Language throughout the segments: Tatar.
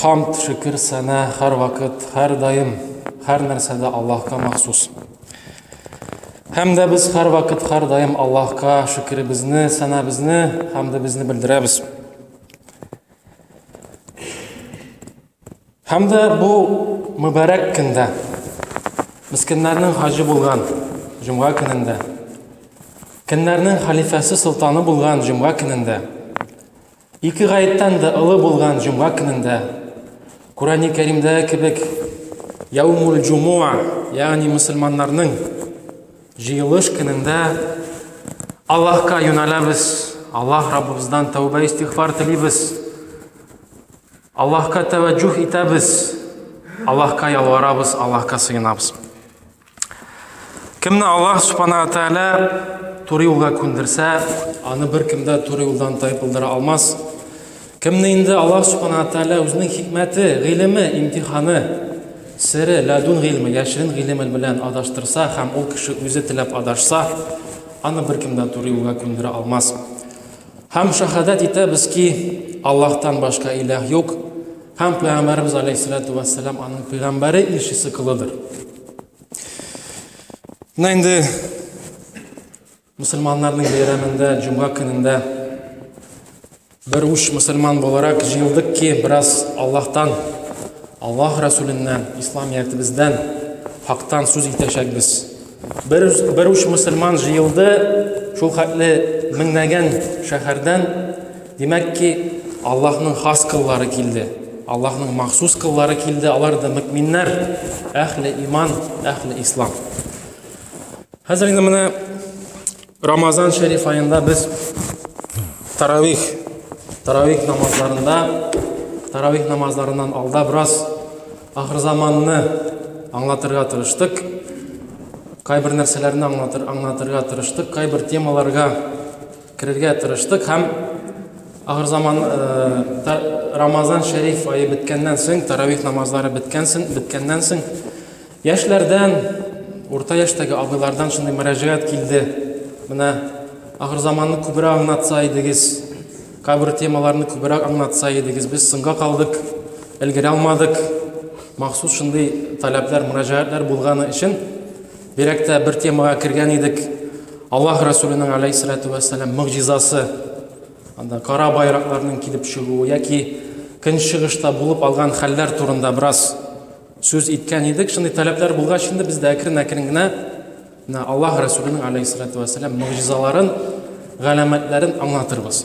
Хамд, шөкер, сәна, хәр вакыт, хәр даим, хәр нәрсәдә Аллаһка махсус. Һәм дә без хәр вакыт, хәр даим Аллаһка шөкеребезне, сәнабезне, хамдыбызны белдерәбез. Һәм дә бу мөбарәк көндә, мискеннәрнең хаҗы булган җомга көнендә, көннәрнең халифәсе солтаны булган җомга көнендә, Ике гаеттән дә олы булган җомга көнендә, Курани Кәримдә кебек, Яумул Джумуа, ягъни мөселманнарның җыелыш көнендә Аллаһка юнәләбез, Аллаһ Раббыбыздан тәүбә истигъфар телибез, Аллаһка тәвәҗҗүһ итәбез, Аллаһка ялварабыз, Аллаһка сыенабыз. Кемне Аллаһ Субхана Тәгалә туры юлга күндерсә, аны бер кемдә туры юлдан тайпылдыра алмас. Кемне инде Аллаһ Субхана Тәгалә үзенең хикмәте, гыйлеме, имтиханы, сере, ләдун гыйлеме, яшерен гыйлеме белән адаштырса һәм ул кеше үзе теләп адашса, аны бер кемдә туры юлга күндерә алмас. Һәм шахадат итәбез ки, Аллаһтан башка иләһ юк, һәм Пәйгамбәрбез алейһиссалату вассалам аның пәйгамбәре илчесе кылыдыр. Менә инде мусульманнарның бәйрәмендә, җомга көнендә бер уч мусульман буларак җыелдык ки, бераз Аллаһтан, Аллаһ Расүленнән, ислам ятыбыздан, хактан сүз итәчәкбез. Бер, бер уч мусульман җыелды, шул хәтле меңнәгән шәһәрдән Димәк ки, Аллаһның хас кыллары килде. Аллаһның махсус кыллары килде, алар да мөкминнәр, әхле иман, әхле ислам. Хәзер инде менә Рамазан шәриф аенда без таравих, таравих намазларында, таравих намазларыннан алда бераз ахыр заманны аңлатырга тырыштык. Кайбер нәрсәләрне аңлатыр, аңлатырга тырыштык, кайбер темаларга Керергә тырыштык һәм ахырзаман Рамазан шәриф ае беткәннән соң, таравих намазлары беткәннән соң, яшьләрдән, урта яшьтәге абыйлардан шундый мөрәҗәгать килде. Менә ахырзаманны күбрәк аңлатса идегез, кабер темаларны күбрәк аңлатса идегез, без соңга калдык, өлгерә алмадык. Махсус шундый таләпләр, мөрәҗәгатләр булганы өчен Бирәк тә бер темага кергән идек. Аллаһ Расулының алейһиссалату вәссәлам мөгъҗизасы. Анда кара байракларның килеп чыгуы яки көнчыгышта булып алган хәлләр турында бераз сүз иткән идек. Шундый таләпләр булгач инде без дә әкрен-әкрен генә менә Аллаһ Расулының алейһиссалату вәссәлам мөгъҗизаларын, галәмәтләрен аңлатырбыз.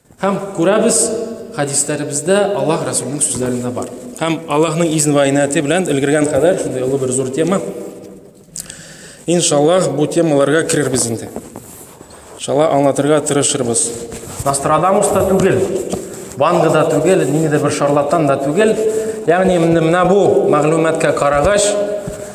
Һәм күрәбез, хәдисләребездә Аллаһ Расулының сүзләрендә бар. Һәм Аллаһның изн ва инаяты белән өлгергән кадәр шундый олы бер зур тема. Иншаллаһ, бу темаларга керербез инде. Иншалла аңлатырга тырышырбыз. Нострадамус та түгел, Ванга да түгел, ниндидер бер шарлатан да түгел. Ягъни менә бу мәгълүматка карагач,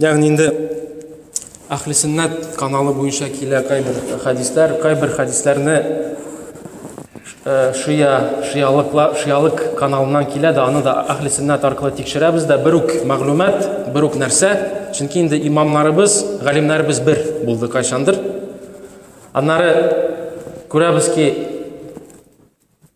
Ягъни инде Әхли сөннәт каналы буенча килә кайбер хәдисләр, кайбер хәдисләрне э, шия, шиялыклар, шиялык каналыннан килә дә, аны да Әхли сөннәт аркылы тикшерәбез дә, бер үк мәгълүмат, бер үк нәрсә, чөнки инде имамнарыбыз, галимнәребез бер булды кайчандыр. Аннары күрәбез ки,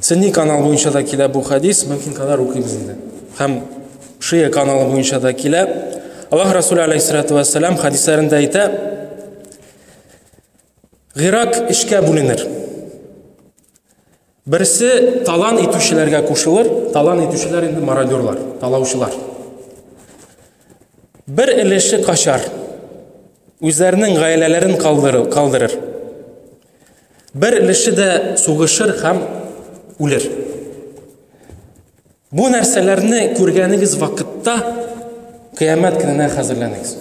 Сөнни канал буенча да килә бу хәдис, мөмкин кадәр укыйбыз инде. Һәм Шия каналы буенча да килә. Аллаһ Расулы алейһиссалату вассалам хәдисләрендә әйтә, Гырак эшкә бүленер. Берсе талан итүчеләргә кушылыр, талан итүчеләр инде мародерлар, талаучылар. Бер өлеше качар, үзләренең гаиләләрен калдырыр, калдырыр. Бер өлеше дә сугышыр һәм үлер. Бу нәрсәләрне күргәнегез вакытта кыямәт көненә хәзерләнегез.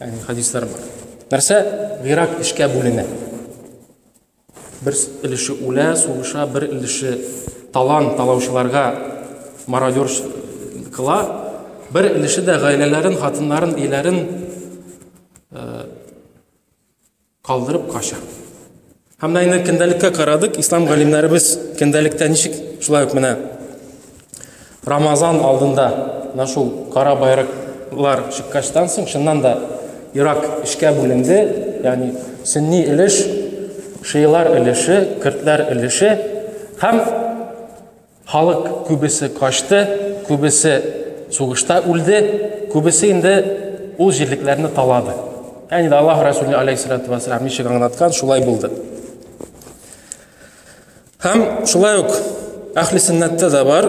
Ягъни хадислар бар. Нәрсә? Гыйрак эшкә бүленә. Бер өлеше үлә, сугыша, бер өлеше талан талаучыларга мародер кыла, бер өлеше дә гаиләләрен, хатыннарын, ияләрен э, калдырып кача. Һәм да инде көндәлеккә карадык, ислам галимнәребез көндәлектә ничек шулай ук менә Рамазан алдында менә шул кара байраклар чыккачтан соң чыннан да Ирак эшкә бүленде, ягъни сөнни өлеш, шиилар өлеше, көртләр өлеше һәм Халык күбесе качты, күбесе сугышта үлде, күбесе инде ул җирлекләрне талады. Әни дә Аллаһ Расулы алейхиссалату вассалам ничек аңлаткан, шулай булды. Һәм шулай ук әхли сөннәттә дә бар,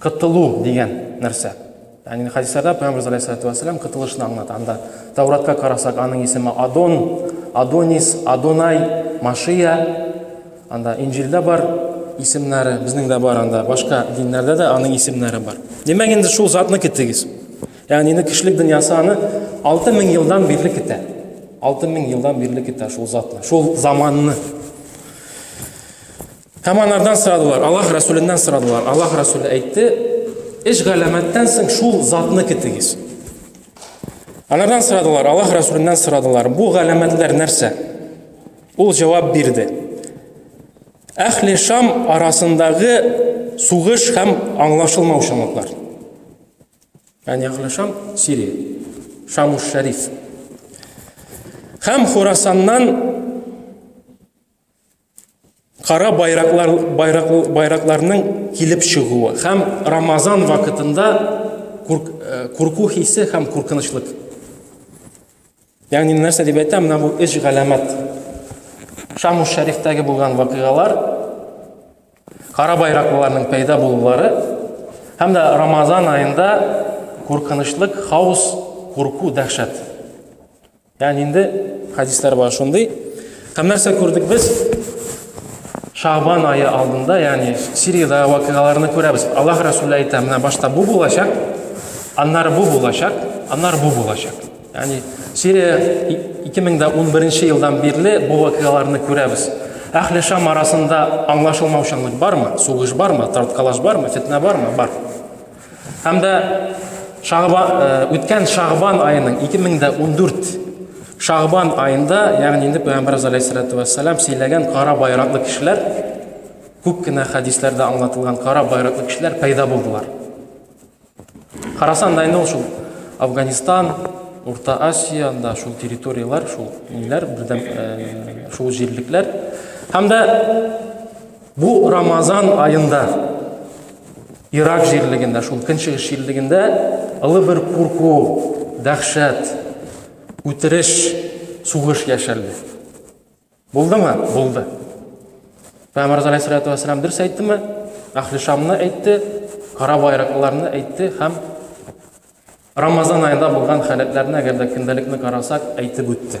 Кытылу дигән нәрсә. Ягъни хадисларда Пәйгамбер алейһиссалату вассалам кытылышны аңлата. Анда Тауратка карасак, аның исеме Адон, Адонис, Адонай, Машия. Анда Инҗилдә бар исемнәре, безнең дә бар анда, башка диннәрдә дә аның исемнәре бар. Димәк, инде шул затны китегез. Ягъни инде кешелек дөньясы аны 6000 елдан бирле китә. 6000 елдан бирле китә шул затны, шул заманны. Һәм анардан сорадылар, Аллаһ Расүленнән сорадылар. Аллаһ Расүле әйтте, эш галәмәттән соң шул затны китегез. Анардан сорадылар, Аллаһ Расүленнән сорадылар, бу галәмәтләр нәрсә? Ул җавап бирде. Әхли Шам арасындагы сугыш һәм аңлашылмаучанлыклар. Яни Әхли Шам Сирия. Шамуш Шәриф. Һәм Хурасаннан Кара байраклар, байрак, байракларның килеп чыгуы һәм Рамазан вакытында курку э, хисе һәм куркынычлык. Ягъни нәрсә дип әйтәм, менә бу өч галәмәт. Шамус шәрифтәге булган вакыйгалар, кара байракларның пәйда булулары һәм дә Рамазан аенда куркынычлык, хаос, курку, дәһшәт. Ягъни инде хадислар бар шундый. Һәм нәрсә күрдек без? Шагбан айы алдында, ягъни Сириядә вакыйгаларны күрәбез. Аллаһ Расулы әйтә, менә башта бу булачак, аннары бу булачак, аннары бу булачак. Ягъни Сирия 2011 елдан бирле бу вакыйгаларны күрәбез. Әхле Шам арасында аңлашылмаучанлык бармы? Сугыш бармы? Тарткалаш бармы? Фетнә бармы? Бар. Һәм дә Шагбан э, үткән Шагбан аеның 2014 Шагбан аенда, ягъни инде Пәйгамбәрбез алейһиссалату вассалам сөйләгән кара байраклы кешеләр, күп кенә хәдисләрдә аңлатылган кара байраклы кешеләр пайда булдылар. Карасан да инде ул шул Афганистан, Урта Азия, анда шул территорияләр, шул ниләр, бердәм э, шул җирлекләр. Һәм дә Бу Рамазан аенда Ирак җирлегендә, шул көнчыгыш җирлегендә олы бер курку, дәхшәт, үтереш, сугыш яшәлде. Булдымы? Булды. Пәйгамбер алейхиссалату вассалам дөрес әйттеме? Әхли Шамны әйтте, кара байраклыларны әйтте һәм Рамазан аенда булган халәтләрне, әгәр дә көндәлекне карасак, әйтеп үтте.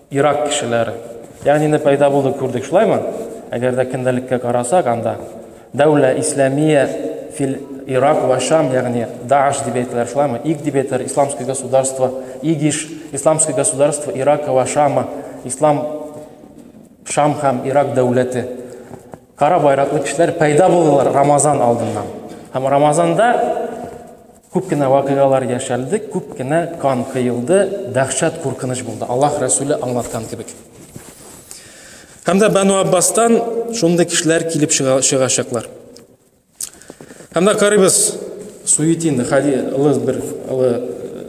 Ирак кешеләре. Ягъни инде пәйда булды күрдек, шулаймы? Әгәр дә көндәлеккә карасак, анда дәүлә исламия фил Ирак ва Шам, ягъни Дааш дип әйтәләр, шулаймы? Иг дип әйтәләр, исламское государство, Игиш, исламское государство Ирак ва Шама, ислам Шам һәм Ирак дәүләте. Кара байраклы кешеләр пәйда булдылар Рамазан алдыннан. Һәм Рамазанда Күп кенә вакыйгалар яшәлде, күп кенә кан кыйылды, дәхшәт куркыныч булды. Аллаһ Рәсүле аңлаткан кебек. Һәм дә Бану Аббастан шундый кешеләр килеп чыгачаклар. Һәм дә карыйбыз Суетин хади улы бер улы э,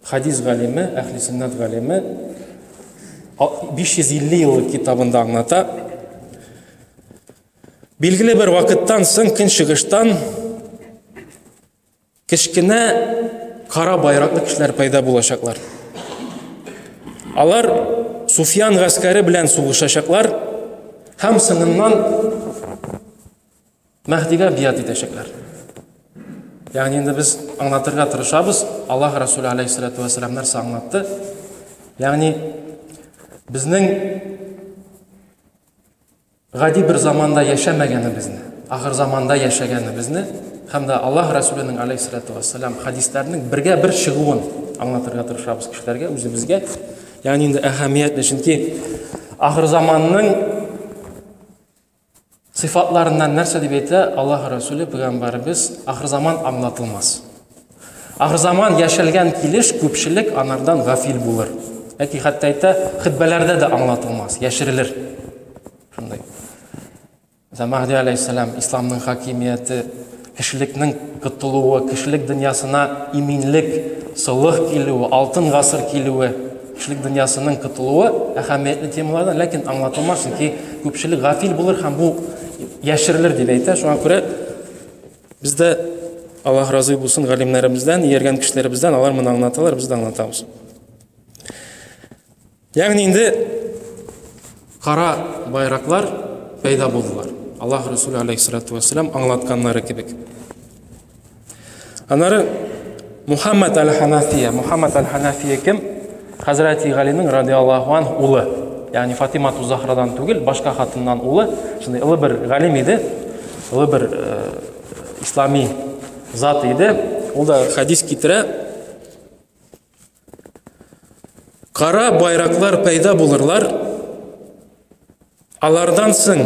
хадис галиме, әхли сөннәт галиме 550 еллык китабында аңлата. Билгеле бер вакыттан соң көнчыгыштан кечкенә кара байраклы кешеләр пайда булачаклар. Алар Суфиян гаскәре белән сугышачаклар һәм соңыннан Мәһдигә бият итәчәкләр. Ягъни инде без аңлатырга тырышабыз, Аллаһ Расулы алейһиссалату вассалам нәрсә аңлатты? Ягъни безнең Гади бер заманда яшәмәгәнебезне, ахыр заманда яшәгәнебезне һәм дә Аллаһ Расүленең алейһиссалату вассалам хәдисләренең бергә бер чыгуын аңлатырга тырышабыз кешеләргә, үзебезгә. Ягъни инде әһәмиятле, чөнки ахыр заманның сыйфатларыннан нәрсә дип әйтә Аллаһ Расүле пәйгамбәребез, ахыр заман аңлатылмас. Ахырзаман яшәлгән килеш күпчелек анардан гафил булыр. Әти хәтта әйтә, хөтбәләрдә дә аңлатылмас, яшерелер. Шундый. Мәсәлән, Мәһди алейһиссәлам исламның хакимияте, кешелекнең котылуы, кешелек дөньясына иминлек, солых килүе, алтын гасыр килүе, кешелек дөньясының котылуы әһәмиятле темалардан, ләкин аңлатылмас, чөнки күпчелек гафил булыр һәм бу яшерелер дип әйтә. Шуңа күрә Бездә Аллаһ разый булсын галимнәребездән, ияргән кешеләребездән, алар моны аңлаталар, без дә аңлатабыз. Ягъни инде кара байраклар пәйда булдылар. Аллаһ Расулы алейхиссалату вассалам аңлатканнары кебек. Аннары Мухаммад аль-Ханафия. Мухаммад аль-Ханафия кем? Хәзрәти Галинең радиаллаху анх улы. Ягъни Фатима Тузахрадан түгел, башка хатыннан улы. Шундый олы бер галим иде. Олы бер э, ислами зат иде. Ул да хадис китерә. Кара байраклар пайда булырлар. Алардан соң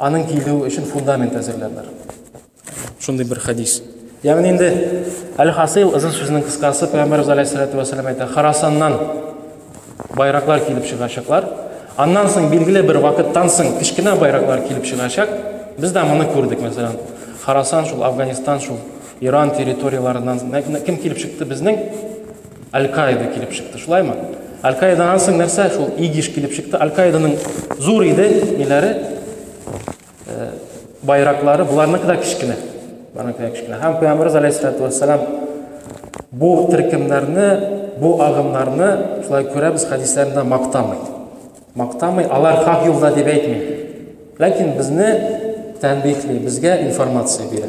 Аның килүе өчен фундамент әзерләрләр. Шундый бер хәдис. Ягъни инде әл-хасил ызын сүзнең кыскасы Пәйгамбәрбез алейһиссалату вассалам әйтә, Харасаннан байраклар килеп чыгачаклар. Аннан соң билгеле бер вакыттан соң кечкенә байраклар килеп чыгачак. Без дә моны күрдек, мәсәлән, Харасан шул, Афганистан шул, Иран территорияләреннән кем килеп чыкты безнең Аль-Каида килеп чыкты, шулаймы? Аль-Каидадан соң нәрсә? Шул ИГИШ килеп чыкты. Аль-Каиданың зур иде ниләре, э, байраклары, буларныкы да кечкенә. Буларныкы да кечкенә. Һәм Пәйгамбәрбез алейһиссалату вассалам бу төркемнәрне, бу агымнарны шулай күрәбез хәдисләрендә мактамый. Мактамый, алар хак юлда дип әйтми. Ләкин безне тәнбихли, безгә информация бирә.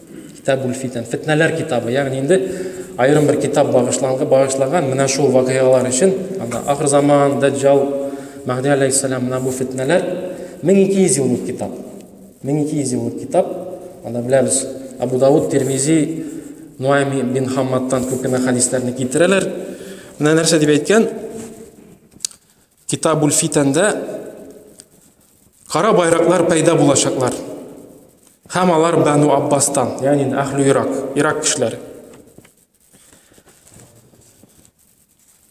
Китабуль-фитән, фетнәләр китабы, ягъни инде аерым бер китап багышлангы багышлаган менә шул вакыйгалар өчен, анда ахыр заман, даҗҗал, мәһди алейһиссәлам, менә бу фетнәләр 1200 еллык китап. 1200 еллык китап, анда беләбез, Абу Дауд, Тирмизи, Нуайми бин Хаммадтан күп кенә хәдисләрне китерәләр. Менә нәрсә дип әйткән, Китабул фитәндә кара байраклар пәйда булачаклар. Һәм алар Бану Аббастан, ягъни Ахлю Ирак, Ирак кешеләре.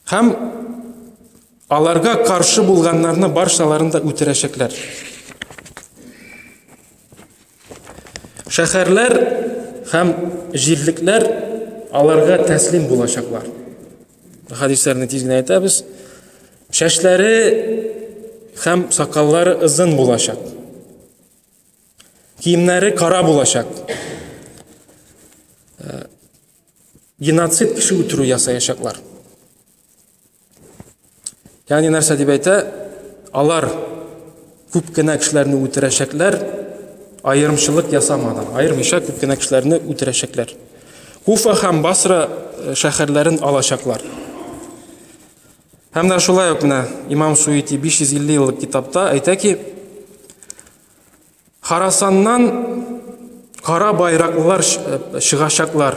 Һәм аларга каршы булганнарны баршаларын да үтерәчәкләр. Шәһәрләр һәм җирлекләр аларга тәслим булачаклар. Хәдисләрне тиз генә әйтәбез. Чәчләре һәм сакаллары озын булачак. Киемнәре кара булачак. Э, геноцид кеше үтерү ясаячаклар. Ягъни нәрсә дип әйтә? Алар күп кенә кешеләрне үтерәчәкләр, аерымчылык ясамадан, аермыйча күп кенә кешеләрне үтерәчәкләр. Куфа һәм Басра э, шәһәрләрен алачаклар. Һәм дә шулай ук менә Имам Суити 550 еллык китапта әйтә ки, Харасаннан кара байраклар э, чыгачаклар.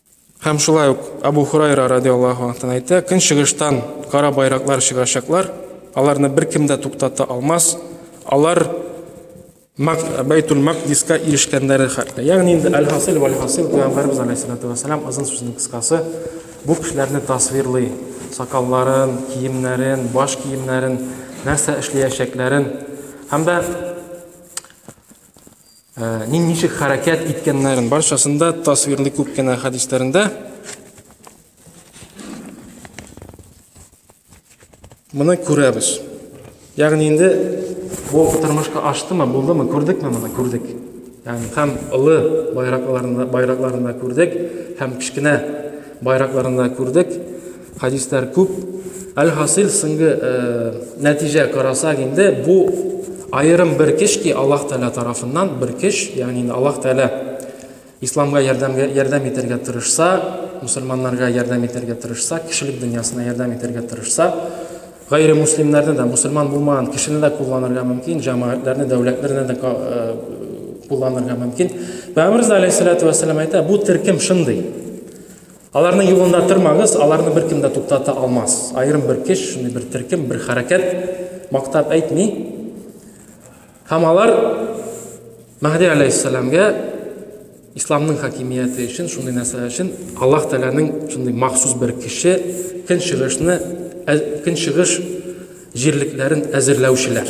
Һәм шулай ук Абу Хурайра радиаллаху анхтан әйтә, көнчыгыштан кара байраклар чыгачаклар, аларны беркем дә туктата алмас. Алар Бәйтул Макдиска ирешкәннәре хәтле. Ягъни инде әл-хасил вәл хасил Пәйгамбәрбез алейһиссалату вассалам озын сүзнең кыскасы бу кешеләрне тасвирлый, сакалларын, киемнәрен, баш киемнәрен, нәрсә эшләячәкләрен һәм дә Ә, нин ничек хәрәкәт иткәннәрен барчасында тасвирлый күп кенә хәдисләрендә. Моны күрәбез. Ягъни инде бу тормышка аштымы, булдымы, күрдекме моны, күрдек. Ягъни һәм олы байракларында, байракларында күрдек, һәм кечкенә байракларында күрдек. Хәдисләр күп. Әлхасил сынге нәтиҗә карасак инде, бу аерым бер кеш ки Аллаһ Тәгалә тарафыннан бер кеш, ягъни инде Аллаһ Тәгалә исламга ярдәмгә ярдәм итәргә тырышса, мусульманнарга ярдәм итәргә тырышса, кешелек дөньясына ярдәм итәргә тырышса, гайре муслимнәрне дә, мусульман булмаган кешене дә кулланырга мөмкин, җәмәгатьләрне, дәүләтләрне дә кулланырга мөмкин. Пәйгамбер алейһиссалату вәссәлам әйтә, бу төркем шундый. Аларның юлында тормагыз, аларны бер кем дә туктата алмас. Аерым бер кеш, шундый бер төркем, бер хәрәкәт мактап әйтми. Һәм алар Мәһди алейхиссаламга исламның хакимияте өчен, шундый нәрсә өчен Аллаһ Тәгаләнең шундый махсус бер кеше көнчыгышны көнчыгыш җирлекләрен әзерләүчеләр.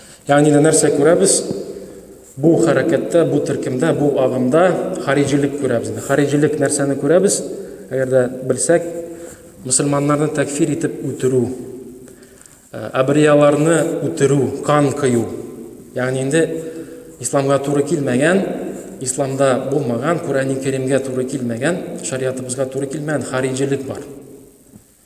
Ягъни да нәрсә күрәбез? Бу хәрәкәттә, бу төркемдә, бу агымда хариҗилек күрәбез. Хариҗилек нәрсәне күрәбез? Әгәр дә белсәк, мусульманнарны тәкфир итеп үтерү, э, абрияларны үтерү, кан кыю. Ягъни инде исламга туры килмәгән, исламда булмаган, Курәни Кәримгә туры килмәгән, шариатыбызга туры килмәгән хариҗилек бар.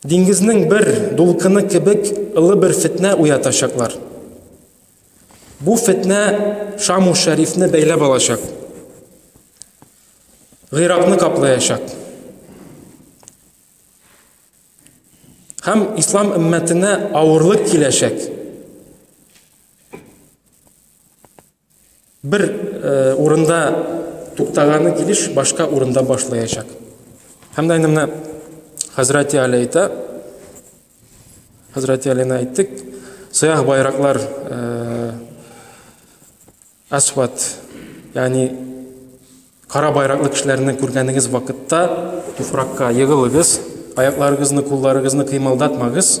Диңгезнең бер дулкыны кебек ылы бер фетнә уятачаклар. Бу фетнә Шаму Шәрифне бәйләп алачак. Гыйракны каплаячак. Һәм ислам өммәтенә авырлык киләчәк. Бер урында туктаганы килеш башка урында башлаячак. Һәм дә инде менә Хәзрәти Али әйтә, Хәзрәти Алина әйттек, сыяһ байраклар асфат, ягъни кара байраклы кешеләрне күргәнегез вакытта туфракка егылыгыз, аякларыгызны, кулларыгызны кыймылдатмагыз.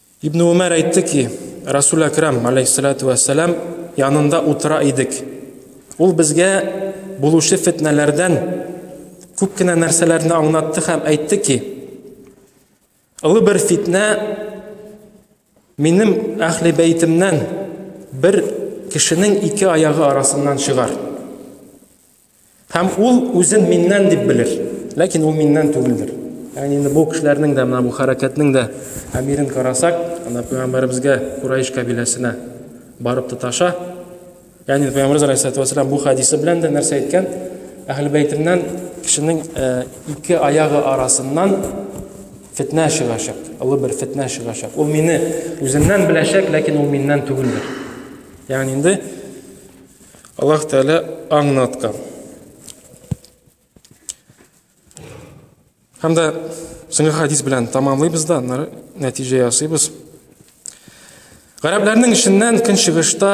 Ибн Умәр әйтте ки, Расул Әкрам, алейхиссалату вәссәлам, янында утыра идек. Ул безгә булучы фетнәләрдән күп кенә нәрсәләрне аңлатты һәм әйтте ки, Олы бер фитнә минем әхли бәйтемнән бер кешенең ике аяғы арасыннан чыгар. Һәм ул үзен миннән дип белер, ләкин ул миннән түгелдер. Ягъни инде бу кешеләрнең дә менә бу хәрәкәтнең дә әмирен карасак, анда пәйгамбәребезгә Курайш кабиләсенә барып тоташа. Ягъни пәйгамбәребез алейһиссалату вассалам бу хадисы белән дә нәрсә әйткән? Әһле бәйтеннән кешенең э, ике аягы арасыннан фетнә чыгачак, олы бер фетнә чыгачак. Ул мине үзеннән беләчәк, ләкин ул миннән түгелдер. Ягъни инде Аллаһ Тәгалә аңнаткан. Һәм дә соңгы хадис белән тәмамлыйбыз да, аннары нәтиҗә ясыйбыз. Гарәпләрнең эченнән көнчыгышта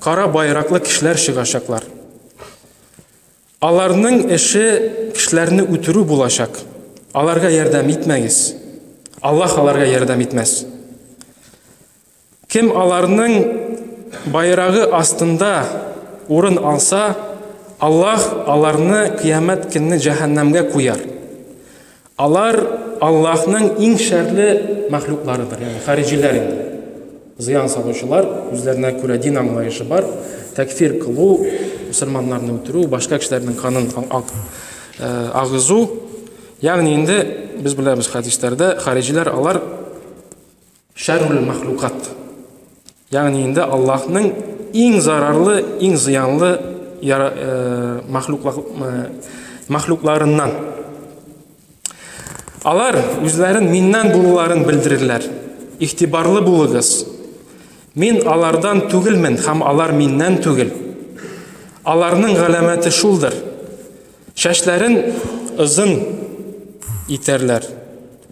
кара байраклы кешеләр чыгачаклар. Аларның эше кешеләрне үтерү булачак. Аларга ярдәм итмәгез. Аллаһ аларга ярдәм итмәс. Кем аларның байрагы астында урын алса, Аллаһ аларны Кыямәт көнне җәһәннәмгә куяр. Алар Аллаһның иң шәрле мәхлукларыдыр, ягъни хариҗиләр инде. Зыян салучылар, үзләренә күрә дин аңлаешы бар, тәкфир кылу, мусульманнарны үтерү, башка кешеләрнең канын агызу. Ягъни инде без беләбез хәдисләрдә, хариҗиләр алар Шәррул мәхлукат. Ягъни инде Аллаһның иң зарарлы, иң зыянлы э, мәхлукларыннан. Э, Алар үзләрен миннән булуларын белдерерләр. Ихтибарлы булыгыз. Мин алардан түгелмен һәм алар миннән түгел. Аларның галәмәте шулдыр. Шәшләрен озын итәрләр.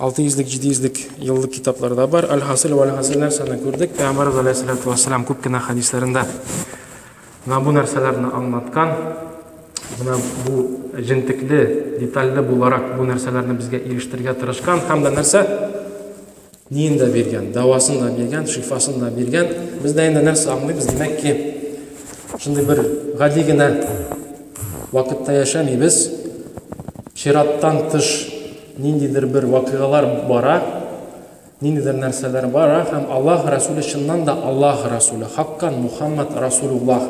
Алты йөзлек, җиде йөзлек еллык китаплар да бар. Әлхасил вә әлхасил нәрсәне күрдек? Пәйгамбәр галәйһиссәләту вәссәлам күп кенә хәдисләрендә менә бу нәрсәләрне аңлаткан. Менә бу җентекле, детальле буларак бу нәрсәләрне безгә ирештергә тырышкан һәм дә нәрсә? Ниен дә биргән, дәвасын да биргән, шифасын да биргән. Без дә инде нәрсә аңлыйбыз, димәк ки, шундый бер гади генә вакытта яшәмибез. Чираттан тыш ниндидер бер вакыйгалар бара, ниндидер нәрсәләр бара һәм Аллаһ Расуле чыннан да Аллаһ Расуле, хаккан Мухаммад Расулуллаһ.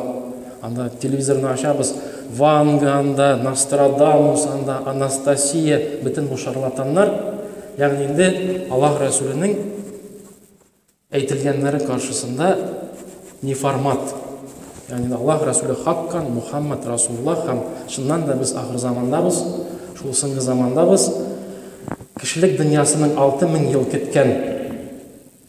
Анда телевизорны ачабыз, Ванга анда, Нострадамус анда, Анастасия, бөтен бу шарлатаннар. Ягъни инде Аллаһ Рәсүленең әйтелгәннәре каршысында неформат, ягъни Аллаһ Рәсүле хаккан, Мухаммад Расуллах һәм чыннан да без ахыр замандабыз, шул соңгы замандабыз, кешелек дөньясының алты мең ел көткән